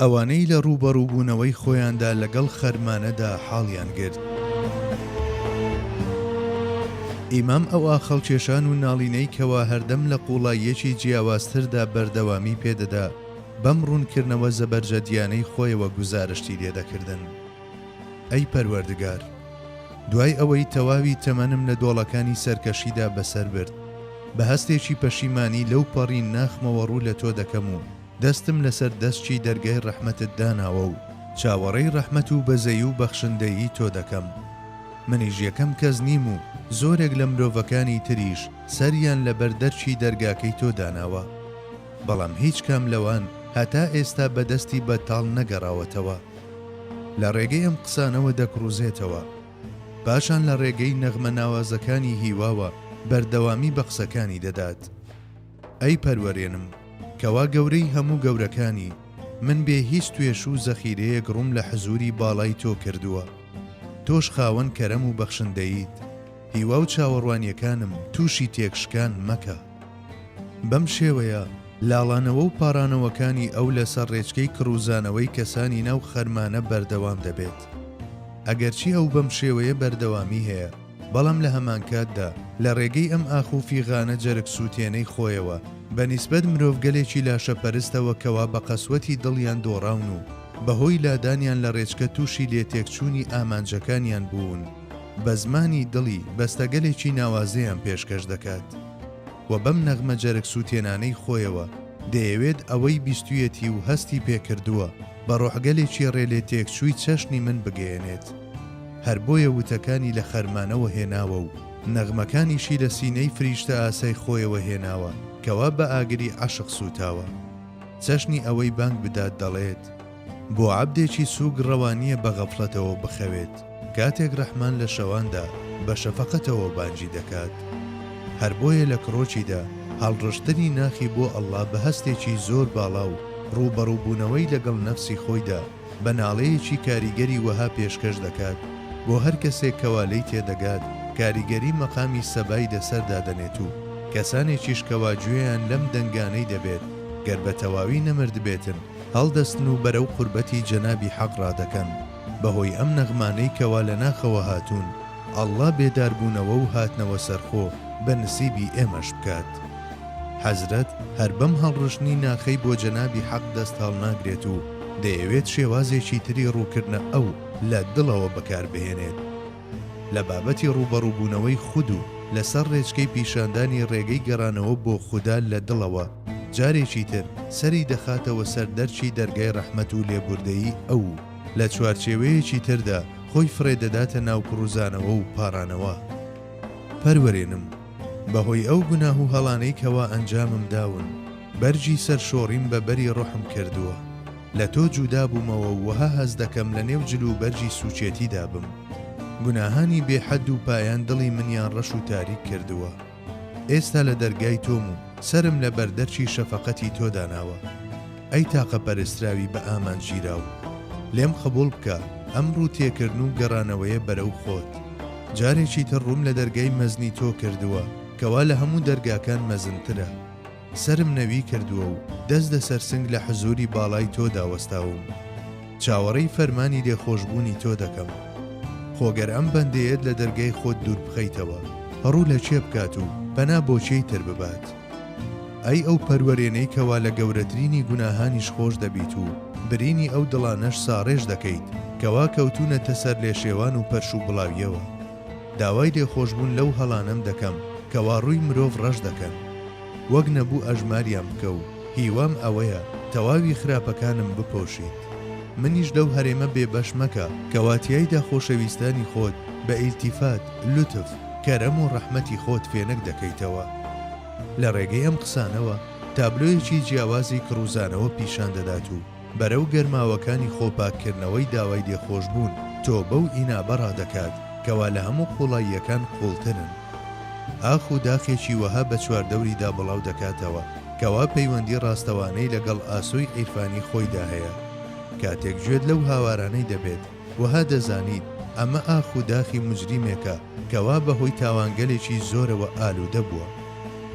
ئەوانەی لە ڕووبەڕووبوونەوەی خۆیاندا لەگەڵ خەرمانەدا حاڵیان گرت. ئیمام ئەو ئاخەڵکێشان و ناڵینەی کەوا هەردەم لە قووڵاییەکی جیاوازتردا بەردەوامی پێدەدا، بەم ڕوونکردنەوە زەبەرجەدییانەی خۆیەوە گوزارشتی لێدەکردن. ئەی پەروەردگار، دوای ئەوەی تەواوی تەمەنم لە دۆڵەکانی سەرکەشیدا بەسەر برد، بە هەستێکی پەشیمانی لەو پەڕی ناخمەوە ڕوو لە تۆ دەکەم و دەستم لەسەر دەسکی دەرگای ڕەحمەتت داناوە و چاوەڕێی ڕەحمەت و بەزەیی و بەخشندەیی تۆ دەکەم. منیش یەکەم کەس نیم و زۆرێک لە مرۆڤەکانی تریش سەریان لە بەر دەرکی دەرگاکەی تۆ داناوە، بەڵام هیچ کام لەوان هەتا ئێستا بە دەستی بەتاڵ نەگەڕاوەتەوە. لە ڕێگەی ئەم قسانەوە دەکڕوزێتەوە. پاشان لە ڕێگەی نەغمە ناوازەکانی هیواوە بەردەوامی بە قسەکانی دەدات. ئەی پەروەرێنم، کەوا گەورەی هەموو گەورەکانی، من بێ هیچ توێش و زەخیرەیەک ڕووم لە حزووری باڵای تۆ کردووە. تۆش خاوەن کەرەم و بەخشندەییت، هیوا و چاوەڕوانییەکانم تووشی تێکشکان مەکە. بەم شێوەیە لاڵانەوە و پاڕانەوەکانی ئەو لەسەر ڕێچکەی کڕوزانەوەی کەسانی ناو خەرمانە بەردەوام دەبێت. ئەگەرچی ئەو بەم شێوەیە بەردەوامی هەیە، بەڵام لە هەمانکاتدا لە ڕێگەی ئەم ئاخ و فیغانە جەرگ سووتێنەی خۆیەوە بە نیسبەت مرۆڤگەلێکی لاشەپەرستەوە کەوا بە قەسوەتی دڵیان دۆڕاون و بەهۆی لادانیان لە ڕێچکە تووشی لێتێکچوونی ئامانجەکانیان بوون، بە زمانی دڵی بەستەگەلێکی ناوازەیان پێشکەش دەکات و بەم نەغمە جەرگ سووتێنانەی خۆیەوە دەیەوێت ئەوەی بیستوویەتی و هەستی پێ کردووە بە ڕۆحگەلێکی ڕێلێ تێکچووی چەشنی من بگەیەنێت. هەر بۆیە وتەکانی لە خەرمانەوە هێناوە و نەغمەکانیشی لە سینەی فریشتەئاسای خۆیەوە هێناوە کەوا بە ئاگری عەشق سووتاوە چەشنی ئەوەی بانگ بدات دەڵێت. بۆ عەبدێکی سووک ڕەوا نییە بە غەفڵەتەوە بخەوێت کاتێک ڕەحمان لە شەواندا بە شەفەقەتەوە بانگی دەکات. هەر بۆیە لە کڕۆکیدا هەڵڕشتنی ناخی بۆ ئەڵڵا بە هەستێکی زۆر باڵا و ڕووبەڕووبوونەوەی لەگەڵ نەفسی خۆیدا بە ناڵەیەکی کاریگەری وەها پێشکەش دەکات بۆ هەر کەسێک کەوا لێی تێدەگات کاریگەری مەقامی سەبای لەسەر دادەنێت و کەسانێکیش کەوا گوێیان لەم دەنگانەی دەبێت گەر بە تەواوی نەمردبێتن هەڵدەستن و بەرەو قوربەتی جەنابی حەق ڕادەکەن، بەهۆی ئەم نەغمانەی کەوا لە ناخەوە هاتوون، اللە بێدار بوونەوە و هاتنەوە سەرخۆ بە نسیبی ئێمەش بکات. حەزرەت هەر بەم هەڵڕشتنی ناخەی بۆ جەنابی حەق دەست هەڵناگرێت و دەیەوێت شێوازێکی تری ڕووکردنە ئەو لە دڵەوە بەکاربهێنێت، لە بابەتی ڕووبەڕووبوونەوەی خود و لەسەر ڕێچکەی پیشاندانی ڕێگەی گەڕانەوە بۆ خودا لە دڵەوە، جارێکی تر سەری دەخاتەوە سەر دەرکی دەرگای ڕەحمەت و لێبوردەیی ئەو و لە چوارچێوەیەکی تردا خۆی فڕێدەداتە ناو پڕوزانەوە و پاڕانەوە. پەروەرێنم بەهۆی ئەو گوناه و هەڵانەی کەوا ئەنجامم داون، بەرگی سەرشۆڕیم بە بەری ڕۆحم کردووە. لە تۆ جودا بوومەوە و وەها هەست دەکەم لە نێو جل و بەرگی سووکێتیدا بم. گوناهانی بێ حەد و پایان دڵی منیان ڕەش و تاریک کردووە. ئێستا لە دەرگای تۆم و سەرم لە بەردەرکی شەفەقەتی تۆ داناوە. ئەی تاقە پەرستراوی بە ئامانج گیراو! لێم قبووڵ بکە ئەم ڕوو تێکردن و گەڕانەوەیە بەرەو خۆت. جارێکی تر ڕووم لە دەرگای مەزنی تۆ کردووە کە وا لە هەموو دەرگاکان مەزنترە. سەرم نەوی کردووە و دەست لەسەر سنگ لە حزووری باڵای تۆدا وەستاوم. چاوەڕێی فەرمانی لێخۆشبوونی تۆ دەکەم. خۆ گەر ئەم بەندەیەت لە دەرگای خۆت دوور بخەیتەوە، ڕوو لە کێ بکات و پەنا بۆ کێی تر ببات؟ ئەی ئەو پەروەرێنەی کەوا لە گەورەترینی گوناهانیش خۆش دەبیت و برینی ئەو دڵانەش ساڕێژ دەکەیت کەوا کەوتوونەتە سەر لێشێوان و پەرش و بڵاوییەوە؟ داوای لێخۆشبوون لەو هەڵانەم دەکەم کەوا ڕووی مرۆڤ ڕەش دەکەن وەک نەبوو ئەژماریان بکە و هیوام ئەوەیە تەواوی خراپەکانم بپۆشیت منیش لەو هەرێمە بێ بەش مەکە کەوا تیایدا خۆشەویستانی خۆت بە ئیلتیفات، لوتف، کەرەم و ڕەحمەتی خۆت فێنک دەکەیتەوە. لە ڕێگەی ئەم قسانەوە تابلۆیەکی جیاوازی کڕوزانەوە پیشان دەدات و، بەرەو گەرماوەکانی خۆپاککردنەوەی داوای لێخۆشبوون، تۆبە و ئینابە ڕادەکات، کەوا لە هەموو قووڵاییەکان قووڵترن. ئاخ و داخێکی وەها بە چواردەوریدا بڵاو دەکاتەوە، کەوا پەیوەندی ڕاستەوانەی لەگەڵ ئاسۆی عیرفانی خۆیدا هەیە. کاتێک گوێت لەو هاوارانەی دەبێت، وەها دەزانیت، ئەمە ئاخ و داخی موجریمێکە، کەوا بەهۆی تاوانگەلێکی زۆرەوە ئالوودە بووە.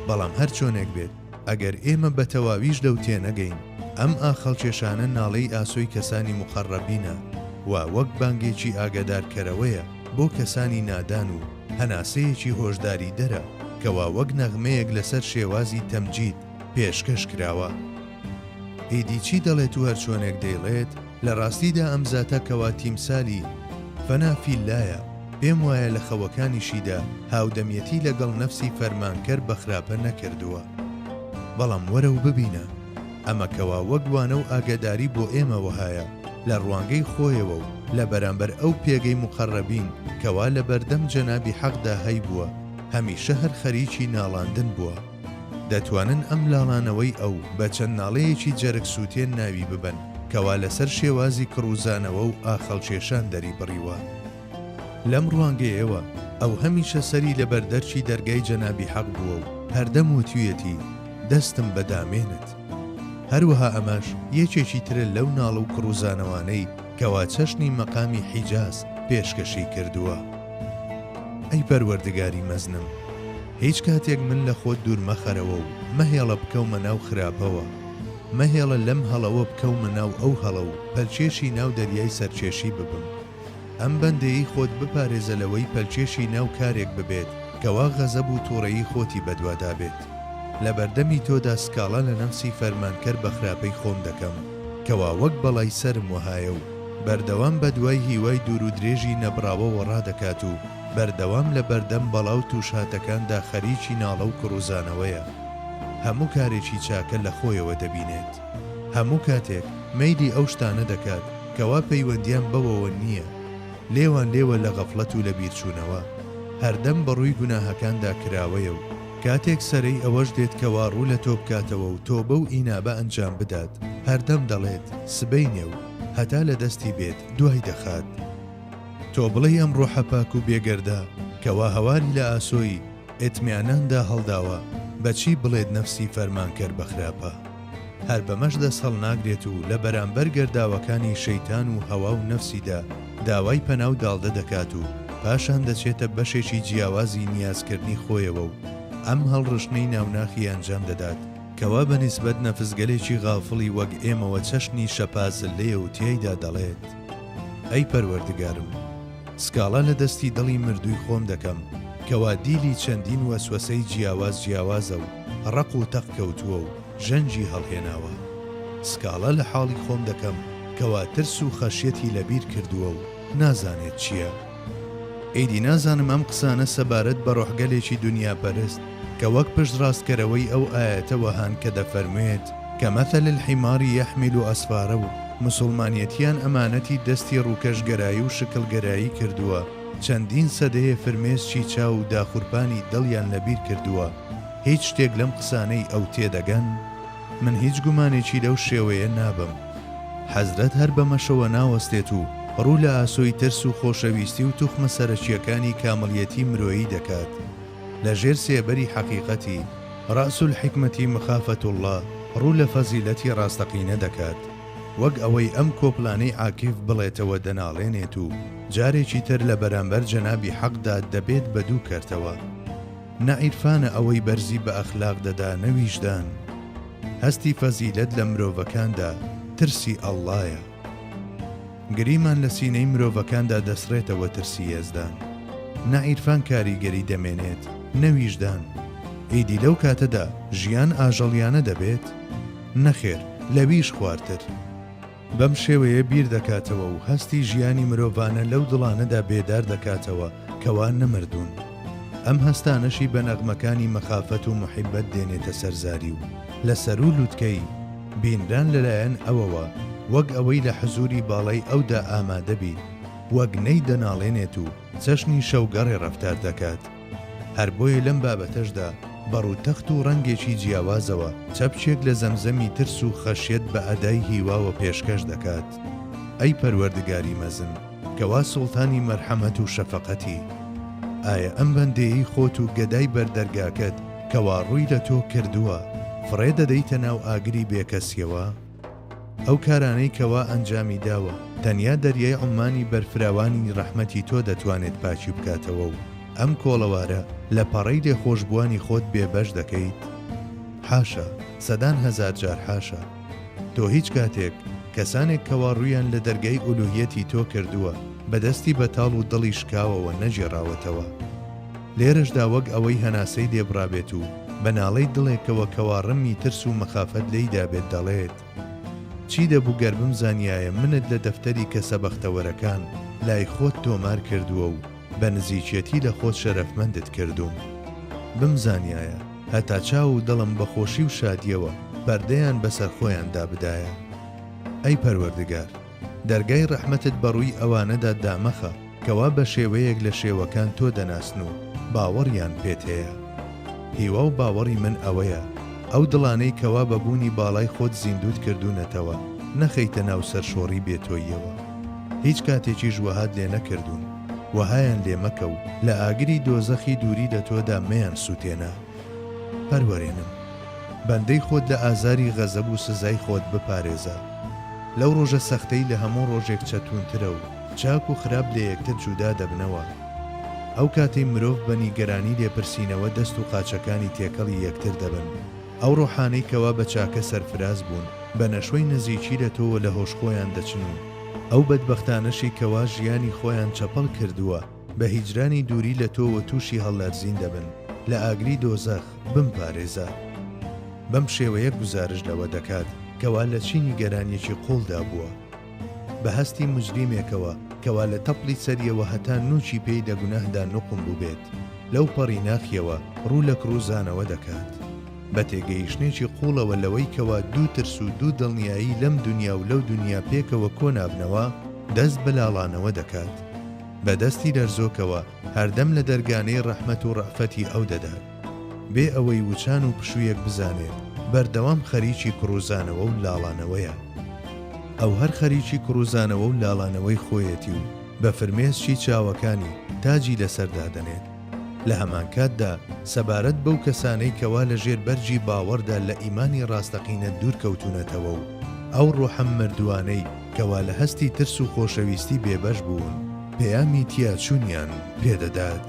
بەڵام هەرچۆنێک بێت، ئەگەر ئێمە بەتەواویش لەو تێنەگەین ئەم ئاخەڵکێشانە ناڵەی ئاسۆی کەسانی موقەڕەبینە و وەک بانگێکی ئاگادارکەرەوەیە بۆ کەسانی نادان و هەناسەیەکی هۆشداریدەرە کەوا وەک نەغمەیەک لەسەر شێوازی تەمجید پێشکەش کراوە. ئیدی چی دەڵێت و هەرچۆنێک دەیڵێت، لە ڕاستیدا ئەم زاتە کەوا تیمسالی، فنا فی اللە، یە، پێم وایە لە خەوەکانیشیدا هاودەمیەتی لە گەڵ نەفسی فەرمانکەر بە خراپە نەکردووە. بەڵام وەرە و ببینە. ئەمە کەوا وەک وانە و ئاگەداری بۆ ئێمە وەهایە لە ڕوانگەی خۆیەوە و لە بەرامبەر ئەو پێگەی موقەڕەبین کەوا لە بەردەم جەنابی حەقدا هەیبووە هەمیشە هەر خەریکی ناڵاندن بووە. دەتوانن ئەم لاڵانەوەی ئەو بە چەند ناڵەیەکی جەرگ سووتێن ناوی ببەن، کەوا لەسەر شێوازی کڕوزانەوە و ئاخەڵکێشان دەری بڕیوە. لەم ڕوانگەیەوە ئەو هەمیشە سەری لە بەر دەرکی دەرگای جەنابی حەق بووە و هەردەم وتویەتی، دەستم بە دامێنت. هەروەها ئەمەش یەکێکی ترە لەو ناڵ و کڕوزانەوانەی، کەوا چەشنی مەقامی حیجاز پێشکەشی کردووە. ئەی پەروەردگاری مەزنم! هیچ کاتێک من لە خۆت دوور مەخەرەوە و مەهێڵە بکەومە ناو خراپەوە، مەهێڵە لەم هەڵەوە بکەومە ناو ئەو هەڵە و پەلکێشی ناو دەریای سەرکێشی ببم. ئەم بەندەیەی خۆت بپارێزە لەوەی پەلکێشی ناو کارێک ببێت کەوا غەزەب و توڕەیی خۆتی بەدوادابێت. لەبەردەمی تۆدا سکاڵا لە نەفسی فەرمانکەر بەخراپەی خۆم دەکەم. کەوا وەک بەڵای سەرم وەهایە و بەردەوام بەدوای هیوای دوورو درێژی نەبڕاوە وەڕا دەکات و بەردەوام لە بەردەم بەڵا و تووشهاتەکاندا خەریکی ناڵە و کڕوزانەوەیە هەموو کارێکی چاکە لە خۆیەوە دەبینێت هەموو کاتێک مەیلی ئەو شتانە دەکات کەوا پەیوەندیان بەوەوە نییە لێوان لێوە لە غەفڵەت و لە بیرچوونەوە هەردەم بەڕووی گوناهەکاندا کراوەیە و کاتێک سەرەی ئەوەش دێت کەوا ڕوو لە تۆ بکاتەوە و تۆبە و ئینابە ئەنجام بدات، هەردەم دەڵێت، سبەینێ و هەتا لە دەستی بێت دوای دەخات. تۆ بڵێی ئەم ڕۆحە پاک و بێگەردە کەوا هەواری لە ئاسۆی، ئیتمیانان، دا هەڵداوە، بە چی بڵێت نەفسی فەرمانکەر بە خراپە؟ هەر بەمەش دەست هەڵناگرێت و لە بەرامبەر گەرداوەکانی شەیتان و هەوا و نەفسیدا داوای پەنا و داڵدە دەکات و پاشان دەچێتە بەشێکی جیاوازی نیازکردنی خۆیەوە و ئەم هەڵڕشتنەی ناوناخی ئەنجام دەدات کەوا بەنیسبەت نەفسگەلێکی غافڵی وەک ئێمەوە چەشنی شەپازلەیە و تیایدا دەڵێت. ئەی پەروەردگارم سکاڵا لە دەستی دڵی مردووی خۆم دەکەم کەوا دیلی چەندین وەسوەسەی جیاواز جیاوازە و ڕەق و تەق کەوتووە و ژەنگی هەڵهێناوە سکاڵا لە حاڵی خۆم دەکەم کەوا ترس و خەشیەتی لەبیر کردووە و نازانێت چییە ئیدی نازانم ئەم قسانە سەبارەت بە ڕۆحگەلێکی دونیاپەرست کە وەک پشتڕاستکەرەوەی ئەو ئایەتە وەهان کە دەفەرموێت، کمثل الحمار یحمل اسفارا و موسوڵمانیەتیان ئەمانەتی دەستی ڕووکەشگەرایی و شکڵگەرایی کردووە، چەندین سەدەیە فرمێسکی چاو و داخورپانی دڵیان لەبیر کردووە، هیچ شتێک لەم قسانەی ئەو تێدەگەن؟ من هیچ گومانێکی لەو شێوەیە نابەم. حەزرەت هەر بەمەشەوە ناوەستێت و ڕوو لە ئاسۆی ترس و خۆشەویستی و توخمە سەرەکییەکانی کامڵیەتی مرۆیی دەکات لە ژێر سێبەری حەقیقەتی، رأس الحکمەتی مخافەت اللە، ڕوو لە فەزیلەتی ڕاستەقینە دەکات، وەک ئەوەی ئەم کۆپلانەی عاکیف بڵێتەوە دەناڵێنێت و جارێکی تر لە بەرامبەر جەنابی حەقدا دەبێت بە دوو کەرتەوە. نە عیرفانە ئەوەی بەرزی بە ئەخلاق دەدا نە ویژدان هەستی فەزیلەت لە مرۆڤەکاندا ترسی ئەڵڵایە گریمان لە سینەی مرۆڤەکاندا دەسڕێتەوە ترسی یەزدان نە عیرفان کاریگەری دەمێنێت نە ویژدان ئیدی لەو کاتەدا ژیان ئاژەڵیانە دەبێت نەخێر لەویش خوارتر. بەم شێوەیە بیر دەکاتەوە و هەستی ژیانی مرۆڤانە لەو دڵانەدا بێدار دەکاتەوە کەوا نەمردوون. ئەم هەستانەشی بە نەغمەکانی مەخافەت و موحیبەت دێنێتە سەر زاری و لە سەروو لووتکەی، بینران لەلایەن ئەوەوە، وەک ئەوەی لە حزووری باڵای ئەودا ئامادە بیت، وەک نەی دەناڵێنێت و، چەشنی شەوگەڕێ ڕەفتار دەکات. هەر بۆیە لەم بابەتەشدا بە ڕووتەخت و ڕەنگێکی جیاوازەوە چەپکێک لە زەمزەمی ترس و خەشیەت بە ئەدای هیواوە پێشکەش دەکات، ئەی پەروەردگاری مەزن، کەوا سوڵتانی مەرحەمەت و شەفەقەتی، ئایا ئەم بەندەیەی خۆت و گەدای بەر دەرگاکەت کەوا ڕووی لە تۆ کردووە، فڕێ دەدەیتە ناو ئاگری بێکەسیەوە؟ ئەو کارانەی کەوا ئەنجامی داوە تەنیا دەریای عوممانی بەرفراوانی ڕەحمەتی تۆ دەتوانێت پاکی بکاتەوە و ئەم کۆڵەوارە لە پەڕەی لێخۆشبووانی خۆت بێ بەش دەکەیت؟ حاشا، سەدان هەزار جار حاشا. تۆ هیچ کاتێک کەسانێک کەوا ڕوویان لە دەرگای ئولوهیەتی تۆ کردووە بە دەستی بەتاڵ و دڵی شکاوەوە نەگێڕاوەتەوە. لێرەشدا وەک ئەوەی هەناسەی لێ بڕابێت و بە ناڵەی دڵێکەوە کەوا ڕمی ترس و مەخافەت لێی دابێت دەڵێت، چی دەبوو گەر بمزانیایە منت لە دەفتەری کەسە بەختەوەرەکان لای خۆت تۆمار کردووە و بە نزیکێتی لە خۆت شەرەفمەندت کردووم. بمزانیایە هەتا چاو و دڵم بە خۆشی و شادییەوە پەردەیان بەسەر خۆیاندا بدایە. ئەی پەروەردگار! دەرگای ڕەحمەتت بە ڕووی ئەوانەدا دامەخە کەوا بە شێوەیەک لە شێوەکان تۆ دەناسن و باوەڕیان پێت هەیە. هیوا و باوەڕی من ئەوەیە ئەو دڵانەی کەوا بە بوونی باڵای خۆت زیندووت کردوونەتەوە نەخەیتە ناو سەرشۆڕی بێ تۆییەوە. هیچ کاتێکیش وەهات لێ نەکردوون. وەهایان لێ مەکە و لە ئاگری دۆزەخی دووری لە تۆدا مەیان سووتێنە. پەروەرێنم. بەندەی خۆت لە ئازاری غەزەب و سزای خۆت بپارێزە. لەو ڕۆژە سەختەی لە هەموو ڕۆژێک چەتونترە و چاک و خراپ لە یەکتر جودا دەبنەوە. ئەو کاتەی مرۆڤ بە نیگەرانی لێپرسینەوە دەست و قاچەکانی تێکەڵی یەکتر دەبن. ئەو ڕۆحانەی کەوا بە چاکە سەرفراز بوون، بە نەشوەی نزیکی لە تۆوە لە هۆش خۆیان دەچن و ئەو بەدبەختانەشی کەوا ژیانی خۆیان چەپەڵ کردووە، بە هیجرانی دووری لە تۆ و تووشی هەڵلەرزین دەبن لە ئاگری دۆزەخ، بمپارێزە. بەم شێوەیە گوزارشت لەوە دەکات کەوا لە چی نیگەرانیەکی قوڵدا بووە. بە هەستی موجریمێکەوە کەوا لە تەپڵی سەریەوە هەتا نووکی پێی دە گوناهدا نوقم بووبێت، لەو پەڕی ناخیەوە ڕوو لە کڕووزانەوە دەکات. بە تێگەیشتنێکی قوڵەوە لەوەی کەوا دوو ترس و دوو دڵنیایی لەم دونیا و لەو دونیا پێکەوە کۆ نابنەوە، دەست بە لاڵانەوە دەکات. بە دەستی لەرزۆکەوە هەردەم لە دەرگانەی ڕەحمەت و ڕەئفەتی ئەو دەدات بێ ئەوەی وچان و پشوویەک بزانێت بەردەوام خەریکی کڕوزانەوە و لاڵانەوەیە ئەو هەر خەریکی کڕوزانەوە و لاڵانەوەی خۆیەتی و بە فرمێسکی چاوەکانی تاجی لەسەر دادەنێت. لە هەمانکاتدا سەبارەت بەو کەسانەی کەوا لە ژێر بەرگی باوەڕدا لە ئیمانی ڕاستەقینە دوور کەوتوونەتەوە و ئەو ڕۆحە مردووانەی کەوا لە هەستی ترس و خۆشەویستی بێبەش بوون پەیامی تیاچوونیان پێ دەدات.